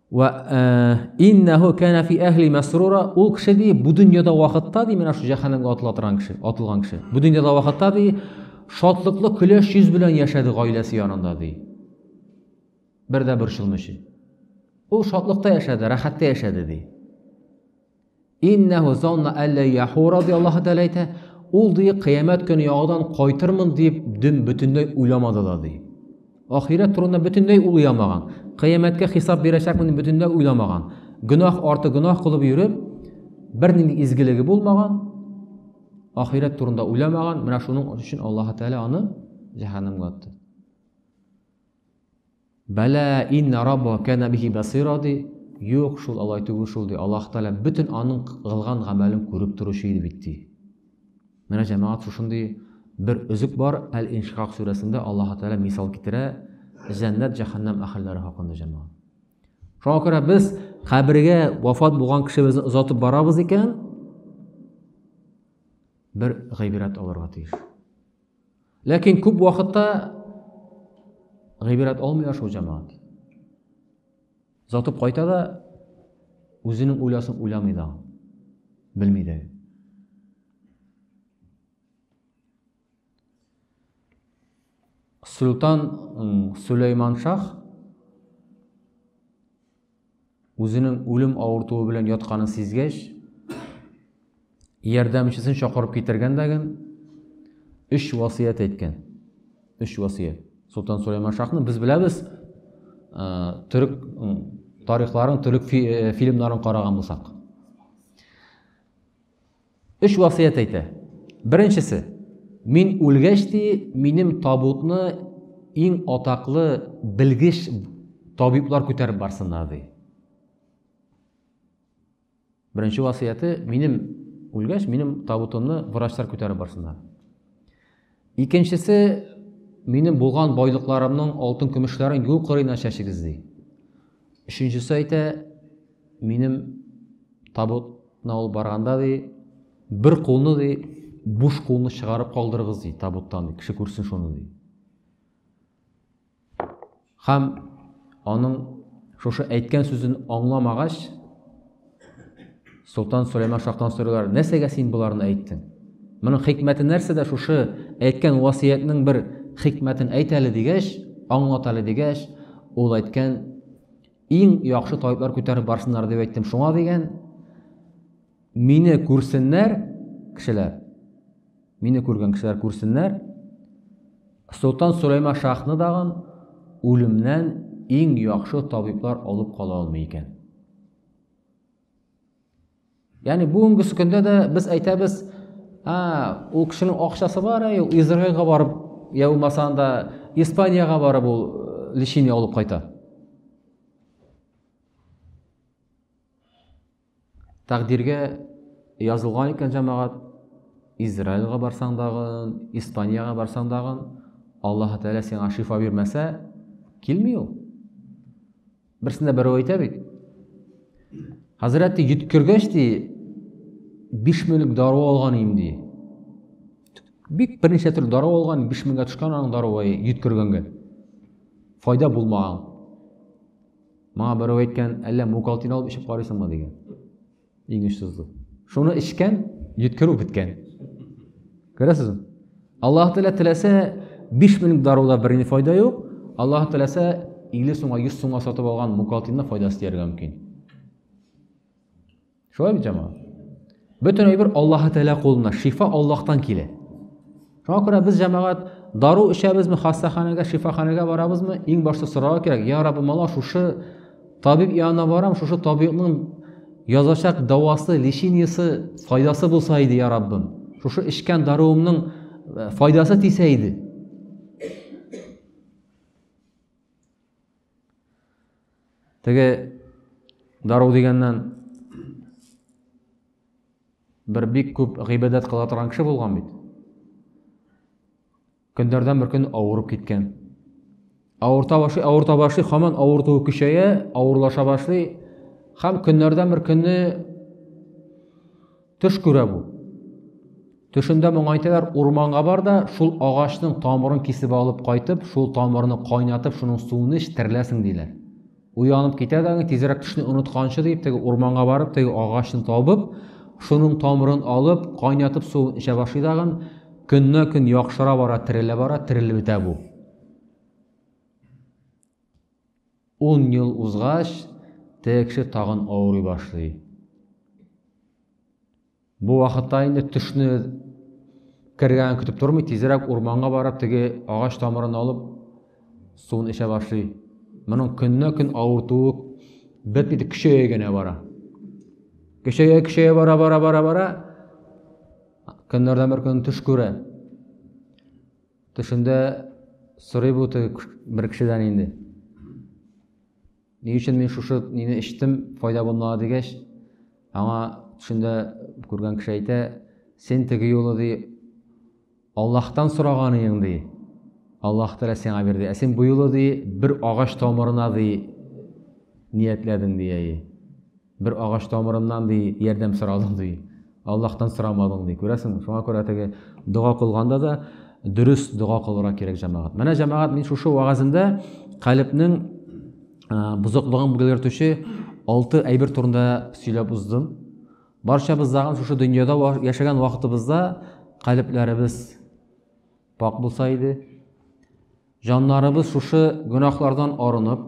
Ва э, иннаху кана фи ахли масрура, ул кеше ди бу дөньяда вакытта ди менә шу җәһәннәмгә атыла торган кеше, атылган кеше. Бу дөньяда вакытта ди шатлыклы көләш йөз белән яшәде гаиләсе янында ди. Бер дә борчылмыйча. Ул шатлыкта яшәде, рәхәттә яшәде ди. Иннәһу занна әллә яху радиаллаһу тәәлә әйтә, ул ди кыямәт көне яудан кайтырмын дип дөм бөтенләй уйламады да ди. Ахирәт турында бөтенләй ул уйламаган. Кыямәткә хисап бирәчәкмен бөтенләй уйламаган. Гөнаһ арты гөнаһ кылып йөреп, бернинди изгелеге булмаган, ахирәт турында уйламаган, менә шуның өчен Аллаһ Тәгалә аны җәһәннәмгә атты. Бәлә инна рабба кәнә бихи басира ди. Юк, шул алай түгел шул ди. Аллаһ Тәгалә бөтен аның кылган гамәлен күреп торучы иде бит ди. Менә җәмәгать шушындый бер өзек бар, Әл-Иншикак сүрәсендә Аллаһ Тәгалә мисал китерә җәннәт җәһәннәм әһелләре хакында җәмәгать. Шуңа күрә без кабергә вафат булган кешебезне озатып барабыз икән, бер гыйбрәт алырга тиеш. Ләкин күп вакытта гыйбрәт алмый шул җәмәгать. Затып кайта да үзенең уйласын уйламый да. Белми дә. Султан Сулейман шах Үзенең үлем авыртуы белән ятканын сизгәч, ярдәмчесен чакырып китергән дә ген өч васыять әйткән. Өч васыять. Солтан Сулейман Шахны без беләбез, төрек тарихларын, төрек фильмнарын караган булсак. Өч васыять әйтә. Беренчесе, мин үлгәч ти, минем табутны иң атаклы белгеч табиблар күтәреп барсыннар ди. Беренче васыяте, минем үлгәч, минем табутымны врачлар күтәреп барсыннар. Икенчесе, минем булган байлыкларымның алтын-көмешләрен юл кырыена чәчегез, ди. Өченчесе әйтә, минем табутна ул барганда, ди, бер кулны, ди, буш кулны чыгарып калдырыгыз, ди, табуттан, ди, кеше күрсен шуны, ди. Хам аның шушы әйткән сүзен аңламагач, Солтан Сөләйман шахтан сорыйлар, нәрсәгә син боларны әйттең? Моның хикмәте нәрсә дә шушы әйткән васиятнең бер хикмәтен әйт әле дигәч, аңлат әле дигәч, ул әйткән иң яхшы табиблар күтәреп барсыннар дип әйттем. Шуңа дигән мине күрсеннәр кешеләр. Мине күргән кешеләр күрсеннәр, Солтан Сөләйма шахны дагын үлемнән иң яхшы табиблар алып кала алмый икән. Яни бүгенге көндә дә без әйтәбез, а, ул кешенең акчасы бар, әй, Израилга барып, я булмаса анда Испаниягә барып ул э, лечение алып кайта. Тәкъдиргә язылган икән җәмәгать, Израильга барсаң дагын, Испаниягә барсаң дагын, Аллаһы Тәгалә сиңа шифа бирмәсә, килми ул. Берсендә берәү әйтә бит. Хәзрәтте йөткергәч ди, 5 меңлек дару алган идем ди. Бик берничә төр дару алган, 5 меңгә төшкән аның даруы йөткергәнгә. Файда булмаган. Моңа берәү әйткән, әллә мукалтин алып эчеп карыйсыңмы дигән. Иң очсызлы. Шуны эчкән, йөткерү беткән. Күрәсезме? Аллаһ Тәгалә теләсә 5 минут даруда бер ни файда юк. Аллаһ теләсә 50 сумга, 100 сумга сатып алган мукалтинны файдасы тияргә мөмкин. Шулай бит җама. Бөтен әйбер Аллаһы Тәгалә кулында, шифа Аллаһтан килә. Шуңа күрә без җәмәгать дару эчәбезме, хастаханәгә, шифаханәгә барабызмы, иң башта сорау кирәк, я Раббы, мала шушы табиб янына барам, шушы табибның язачак дәвасы, лечениесе, файдасы булса иде, я Раббым. Шушы эчкән даруымның э, файдасы тисә иде. Теге дару дигәннән бер бик күп гыйбадәт кыла торган кеше булган бит. Көндәрдән бер көн авырып киткән. Авырта башлый, авырта башлый, хаман авыртуы көчәя, авырлаша башлый. Хам көннәрдән бер көнне Төш күрә бу. Төшендә моңа әйтәләр, урманга бар да, шул агачның тамырын кисеп алып кайтып, шул тамырны кайнатып, шуның суын эч, тереләсең диләр. Уянып китә дә, тизрәк төшне онытканчы дип, теге урманга барып, теге агачны табып, шуның тамырын алып, кайнатып суын эчә башлый дагын, көннә-көн яхшыра бара, терелә бара, терелеп бетә бу. Ун ел узгач, теге кеше тагын авырый башлый. Бу вакытта инде төшне кергән көтеп тормый, тизрәк урманга барып, теге агач тамырын алып, суын эчә башлый. Моның көннә көн авыртуы бетми, көчәя генә бара. Көчәя, көчәя бара, бара, бара, бара. Көннәрдән бер көн төш күрә. Төшендә сорый бу бер кешедән инде. Ни өчен мин шушы нине эчтем, файда булмады дигәч, аңа төшендә күргән кеше әйтә, син теге юлы ди Аллаһтан сораганың ди. Аллаһ Тәгалә сиңа бирде. Ә син бу юлы ди бер агач тамырына ди ниятләдең ди. Бер агач тамырыннан, ди, ярдәм сорадың, ди. Аллаһтан сорамадың, ди. Күрәсеңме? Шуңа күрә теге дога кылганда да дөрес дога кылырга кирәк, җәмәгать. Менә җәмәгать мин шушы вагазында калебнең бозыклыгын белгертүче алты әйбер турында сөйләп уздым. Барчабыз дагы шушы дөньяда яшәгән вакытыбызда калебләребез пак булса иде, җаннарыбыз шушы гөнаһлардан арынып,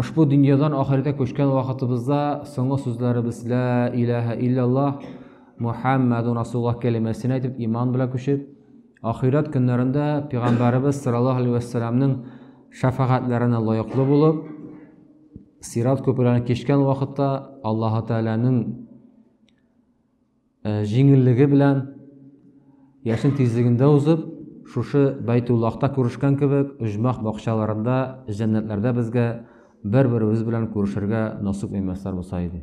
Ошбу дөньядан ахирәткә күчкән вакытыбызда соңгы сүзләребез Лә иләһә илляллаһ Мухаммәдун Расулуллаһ кәлимәсен әйтеп, иман белән күчеп, ахирәт көннәрендә пәйгамбәребез саллаллаһу алейһи вә сәлләмнең шәфәгатьләренә лаеклы булып, сират күперләрен кичкән вакытта Аллаһу Тәгаләнең Җиңеллеге белән, яшен тизлегендә узып, шушы Бәйтуллахта күрешкән кебек, оҗмах бакчаларында, җәннәтләрдә безгә бер-беребез белән күрешергә насыйп имәсләр булса иде.